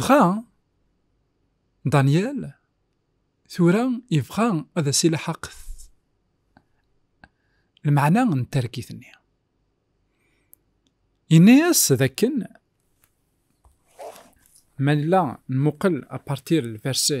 Dɣa, Daniel, tura yebɣa ad as-ilaḥaq lmeɛna n targit-nni. Yenna-as d akken ma nella nmuqel apartir lverse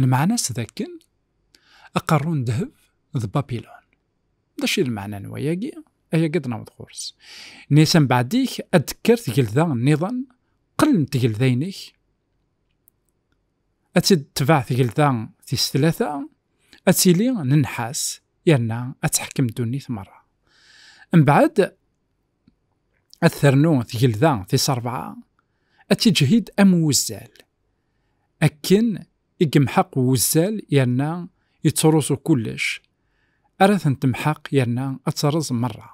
Lmeɛna-s dakken aqerru n ddheb d Babilun. D acu i d lmeɛna n wayagi? Ayagi ad d-naweḍ ɣur-s. Nni-as ambeɛd-ik ad d-tekker tgelda nniḍen, qel n tgelda-inek, ad tt-id-tetbeɛ tgelda tis tlata, ad tili n nnḥas yerna ad teḥkem ddunit merra. Mbeɛd, ad ternu tgelda tis rebɛa, ad tiǧhid am wuzzal, Akken i yemḥeq wuzzal yerna yettruẓu kullec, ara ten-temḥeq yerna ad terreẓ merra.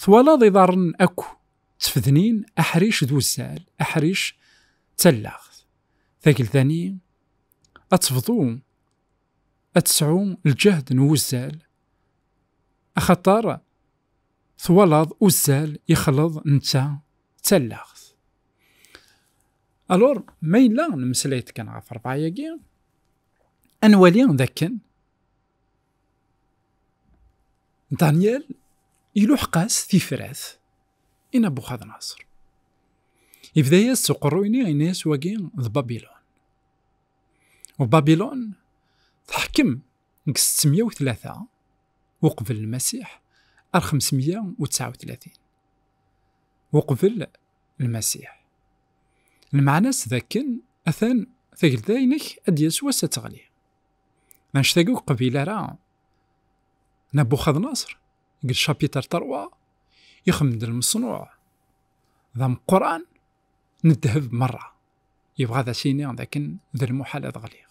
Twalaḍ iḍarren akk ttefdnin, aḥric d wuzzal, aḥric d tallaɣt. Tagelda-nni ad tebḍu, ad tesɛu lǧehd n wuzzal, axaṭer Twalaḍ uzzal ixleḍ netta d tallaɣt. Alors, ma yella nemmeslay-d kan ɣef rebɛa-agi, ad nwali d akken Daniel iluḥeq-as tifrat i Nabuxadnaṣer. Ibda-yas s uqerruy-nni yenna-yas wagi d Babilon. U Babilon teḥkem deg 603 uqbel lmasiḥ ar 539 uqbel lmasiḥ lmeɛna-s d akken atan tagelda-inek ad d-yas wass ad teɣli anect ur qbil ara Nabuxadnaṣr deg lcapitr terwa ixemmem-d lmeṣnuɛ d ameqqran n ddheb merra yebɣa ad as-iniɣ d akken d lmuḥal ad ɣliɣ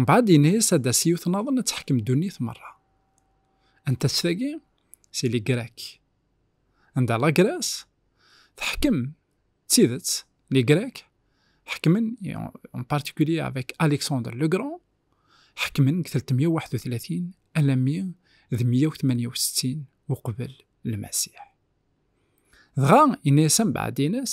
Mbaɛd yenna-yas ad as yiwet naḍen ad teḥkem ddunit merra. Anta-tt tagi? Si li Grec. Anda la Grèce teḥkem d tidet, li Grec ḥekmen en particulier avec Alexandre le Grand ḥekmen deg telt meyya u waḥed u tlatin alammi d meyya u tmanya u settin uqbel Lmasiḥ. Dɣa yenna-yas ambaɛd-ines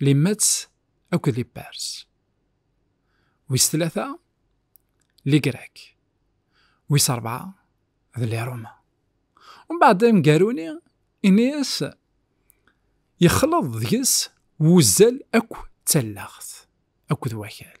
Limatt akked Ipars. Wis tlata, Ligrek. Wis rebɛa, d Liruma. Mbeɛd amgaru-ni, ini-as yexleḍ deg-s wuzzal akk d tallaɣt akked wakal.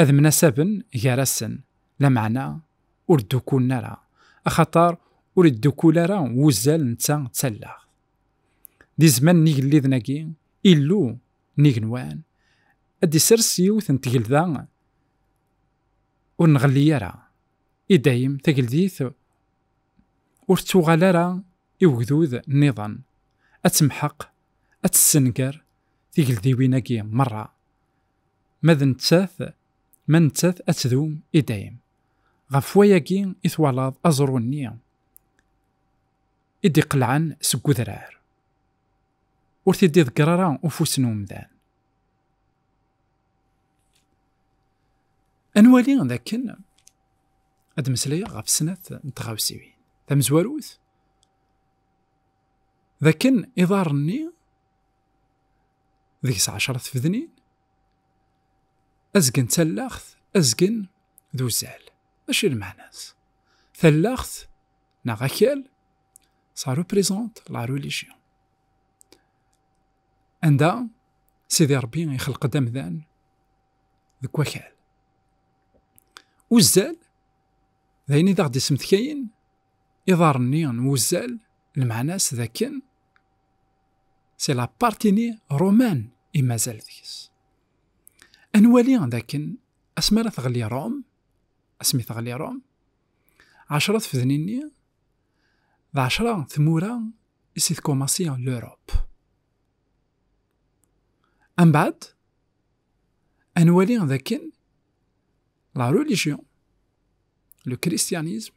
ad mnasaben gar-asen, lameɛna ur ddukulen ara, axaṭer ur iddukul ara wuzzal netta d tallaɣt. Di zzman n yigelliden-agi, Illu n igenwan ad d-isers yiwet n tgelda ur nɣelli ara, i dayem, tageldit ur tettuɣal ara i ugdud nniḍen, ad temḥeq ad tessenger tigeldiwin-agi merra. Ma d nettat, ma nettat ad tdum i dayem. Ɣef wayagi i twalaḍ aẓru-nni i d-iqelɛen seg udrar. Ur t-id-iḍegger ara ufus n umdan. Ad nwali d akken ad meslayeɣ ɣef snat n tɣawsiwin. Tamezwarut, d akken iḍarren-nni deg-s ɛecṛat tfednin azgen d tallaɣt azgen d uzal mačči lmeɛna-s tallaɣt neɣ akal ça représente la religion anda Sidi Ṛebbi ixelq-d amdan deg wakal uzzal d ayen i d aɣ-d-ismedkayen iḍarren-nni n wuzzal, lmeɛna-s d akken c'est la partie romaine i mazal deg-s. Ad nwali d akken asmi ara teɣli Rome, asmi teɣli Rome, ɛecra tfednin-nni d ɛecra tmura i si tkomasi l'Europe. Ambaɛd, ad nwali d akken la religion, le christianisme,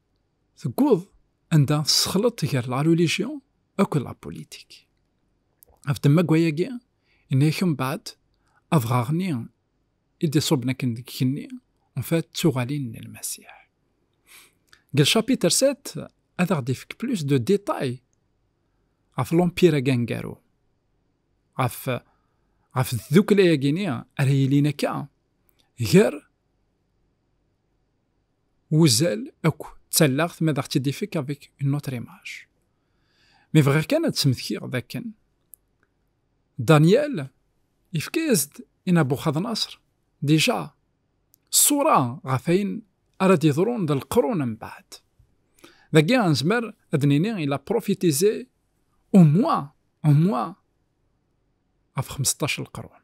Tewweḍ anda tessexleḍ gar la religion akked la politique. Ɣef temmaggwa-agi, inna-ak mbaɛd, adɣaɣ-nni i d-iṣubben akken deg igenni, en fait, d tuɣalin n Lmasiḥ. Deg lcapiter 7, ad aɣ-d-ifek plus de détails ɣef l'empire-agi aneggaru, ɣef ɣef tddukkla-agi-ni ara yilin akka gar wuzal akk d tallaɣt ma d aɣ-tt-id-ifek avec une autre image. Mi bɣiɣ kan ad d-smektiɣ d akken Daniel yefka-as-d i Nabuxadnaṣr dija ṣṣura ɣef ayen ara d-yeḍrun d leqrun mbeɛd. Dagi anezmer ad d-nini il a profitize au moins au moins ɣef 15 leqrun.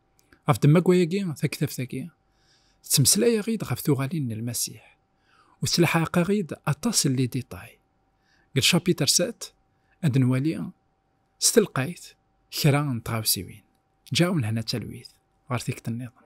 Ɣef ddemma wayagi, taktabt-agi, ttmeslayeɣ-id ɣef tuɣalin n Lmasiḥ, u ttlaḥaqeɣ-id aṭas n liditay. Deg lcapiter 7, ad nwali s telqayt kra n tɣawsiwin. Ǧǧaɣ-wen hna talwit ɣer tikti-nniḍen.